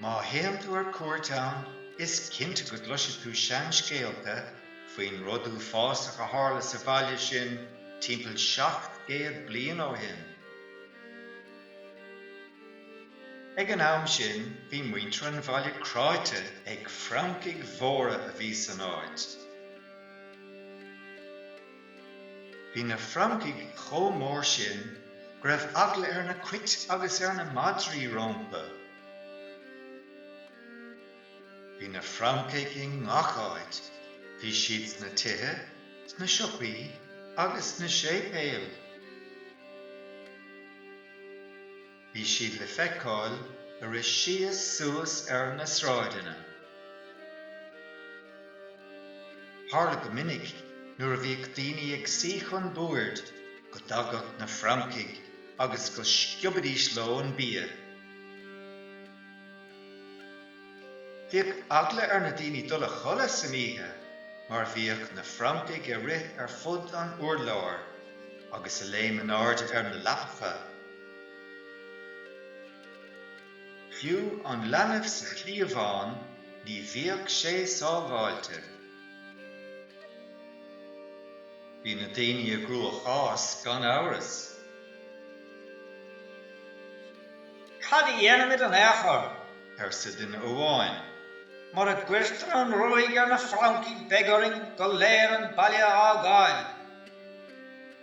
Má théann tú ar cuairt ann, is cinnte go gcloisfidh tú seanscéalta faoin rud uafásach a tharla sa bhaile sin timpeall seacht gcéad bliain ó shin. Ag an am sin, bhí muintir an bhaile cráite ag francaigh mhóra a bhí san áit. Bhí na francaigh chomh mór sin go raibh eagla ar na cait agus ar na madraí rompu. Bhí na francaigh i ngach áit. Bhí siad sna tithe, sna siopaí agus sna séipéil. Bhí siad le feiceáil ag rith síos suas ar na sráideanna. Tharla go minic nuair a bhíodh daoine ag suí chun boird go dtagadh na francaigh agus go sciobaidís leo an bia. Bhíodh eagla ar na daoine dul a chodladh san oíche mar bhíodh na francaigh ag rith ar fud an urláir agus ag léim in airde ar na leapacha. Fiú an leanbh sa chliabhán ní bhíodh sé sábháilte. Bhí na daoine i gcruachás gan amhras. Cad a dhéanfaimid in aon chor, arsa duine amháin, mura gcuirtear an ruaig ar na francaigh beidh orainn go léir an baile a fhágáil.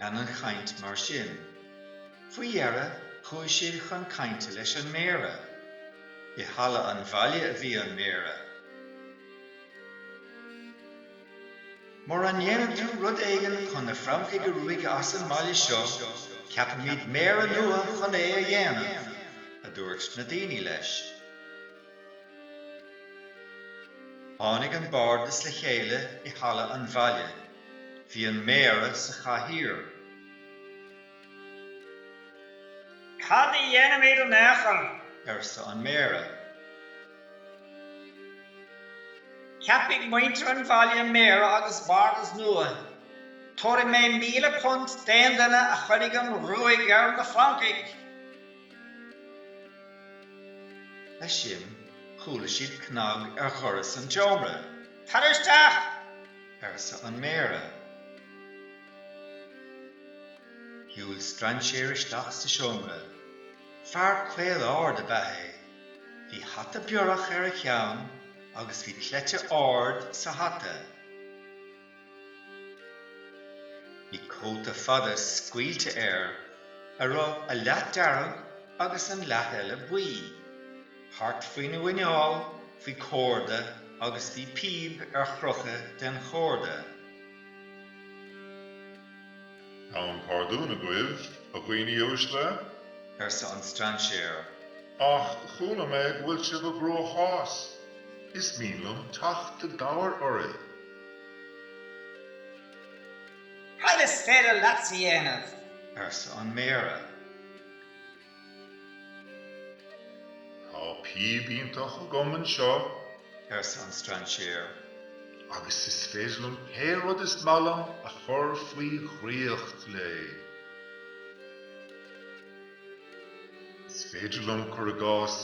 Lean an chaint mar sin, faoi dheireadh chuaigh siad chun cainte leis an méara. I halla an bhaile a bhí an méara. Mura ndéanann tú rud éigin chun na francaigh a ruaigeadh as an mbaile seo, ceapfaimid méara nua chun é a dhéanamh, a dúirt na daoine leis. Tháinig an Bardas le chéile i Halla an Bhaile. Bhí an Méara sa chathaoir. Cad a dhéanfaimid in aon chor? arsa an Méara. Ceapfaidh muintir an bhaile Méara agus Bardas nua. Tabharfaidh mé míle punt d'aon duine a chuirfidh an ruaig ar na francaigh. Leis sin, chuala siad cnag ar dhoras an tseomra. Tar isteach! arsa an Méara. Shiúil strainséir isteach sa seomra. Fear caol ard ab ea é. Bhí hata biorach ar a cheann agus bhí cleite ard sa hata. Bhí cóta fada scaoilte air a raibh a leath dearg agus an leath eile buí. Thart faoina mhuineál bhí córda agus bhí píb ar chrochadh den chórda. Gabhaim pardún agaibh, a dhaoine uaisle. arsa an strainséir. Ach chuala mé go bhfuil sibh i gcruachás. Is mian liom teacht i gcabhair oraibh. Cad is féidir leatsa a dhéanamh? arsa an Méara. Tá píob iontach agam anseo, arsa an strainséir, agus is féidir liom pé rud is maith liom a chur faoi dhraíocht léi. Is féidir liom, cur i gcás,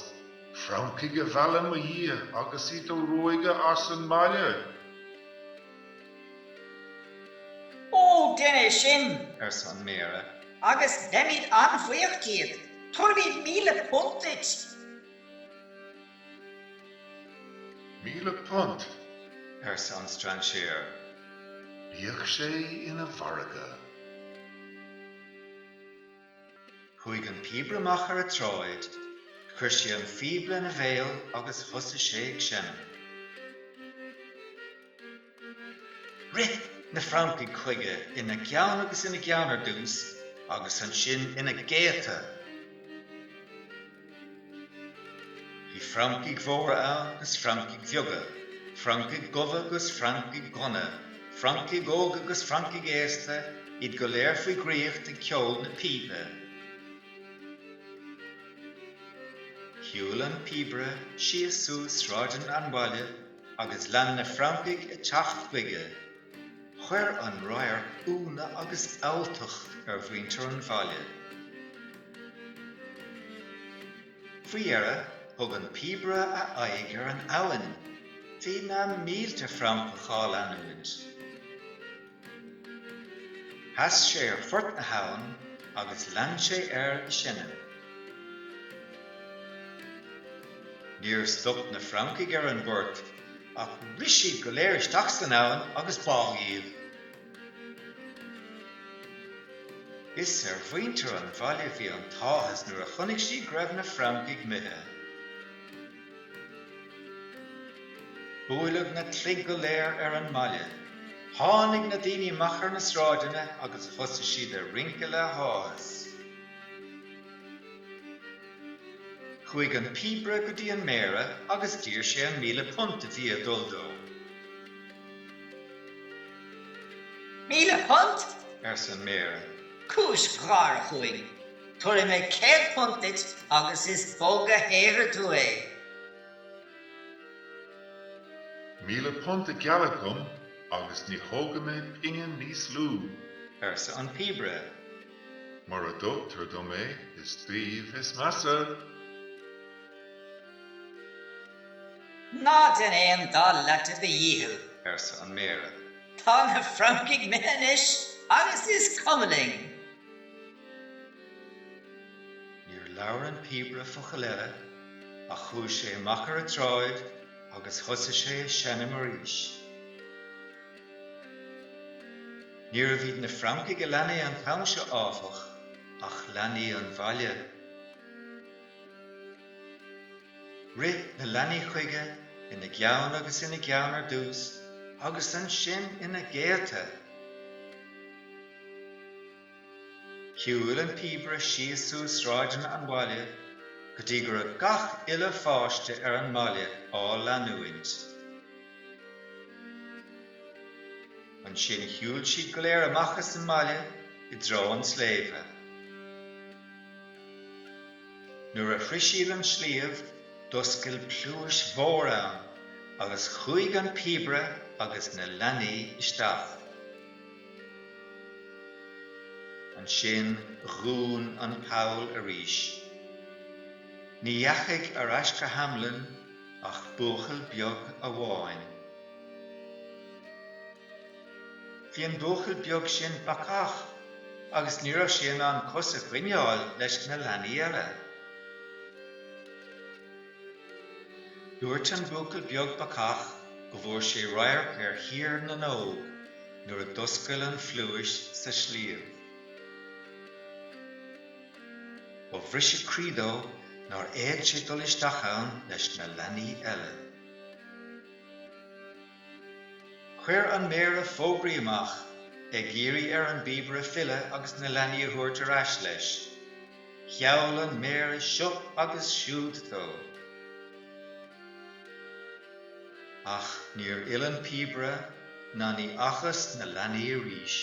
francaigh a mhealladh i mo dhiaidh agus iad a ruaigeadh as an mbaile. Ó, déan é sin! arsa an Méara. Agus beimid an-bhuíoch díot. Tabharfaimid míle punt duit. Míle punt? arsa an strainséir. Bíodh sé ina mhargadh. Chuaidh an píobaire amach ar an tsráid, chuir sé an phíob lena bhéal agus thosuigh sé ag seinm. Rith na francaigh chuige ina gceann agus ina gceann ar dtús agus ansin ina gcéadta. Bhí francaigh mhóra ann 'gus francaigh bheaga, francaigh dhubha 'gus francaigh dhonna, francaigh óga 'gus francaigh aosta, iad go léir faoi dhraíocht ag ceol na píbe. Shiúil an píobaire síos suas sráideanna an bhaile agus lean na francaigh ag teacht chuige. Chuir an radharc ionadh agus alltacht ar mhuintir an bhaile. Faoi dheireadh, thug an píobaire a aghaidh ar an abhainn. Bhí na mílte francach á leanúint. Sheas sé ar phort na habhann agus lean sé air ag seinm. Níor stop na francaigh ar an bport. Ach rith siad go léir isteach san abhainn agus bádh iad. Is ar mhuintir an bhaile bhí an t-áthas nuair a chonaic siad go raibh na francaigh imithe. Buaileadh na cloig go léir ar an mbaile. Tháinig na daoine amach ar na sráideanna agus thosaigh siad ag rince le háthas. Chuaigh an píobaire go dtí an méara agus d'iarr sé an míle punt a bhí ag dul dó. Míle punt? arsa an méara. Cúis gháire chugainn. Tabharfaidh mé céad punt duit agus is bog a shaothraigh tú é. Míle punt a gealladh dhom agus ní thógfaidh mé pingin níos lú. arsa an píobaire. Mura dtugtar dom é, is daoibh is measa! Ná déan aon dá leath de do dhícheall! arsa an Méara. Tá na francaigh imithe anois agus is cuma linn! Níor labhair an píobaire focal eile ach chuaigh sé amach ar an tsráid agus thosaigh sé ag seinm arís. Níorbh iad na francaigh a lean é an t-am seo, áfach, ach leanaí an bhaile. Rith na leanaí chuige, ina gceann agus ina gceann ar dtús, agus ansin ina gcéadta. Shiúil an píobaire síos suas sráideanna an bhaile go dtí go raibh gach uile pháiste ar an mbaile á leanúint. Ansin shiúil siad go léir amach as an mbaile i dtreo an tsléibhe. Nuair a shroich siad an sliabh, d'oscail pluais mhór ann agus chuaigh an píobaire agus na leanaí isteach. Ansin dhún an poll arís. Ní dheachaigh ar ais go Hamelin ach buachaill beag amháin. Bhí an buachaill beag sin bacach agus ní raibh sé in ann cos a choinneáil leis na leanaí eile. Dúirt an buachaill beag bacach go bhfuair sé radharc ar Thír na nÓg nuair a d'oscail an phluais sa sliabh. Ba bhriseadh croí dó nár fhéad sé dul isteach ann leis na leanaí eile. Chuir an Méara fógraí amach, ag iarraidh ar an bpíobaire filleadh agus na leanaí a thabhairt ar ais leis. Gheall an Méara seo agus siúd dó. Ach níor fhill an píobaire ná ní fhacthas na leanaí arís.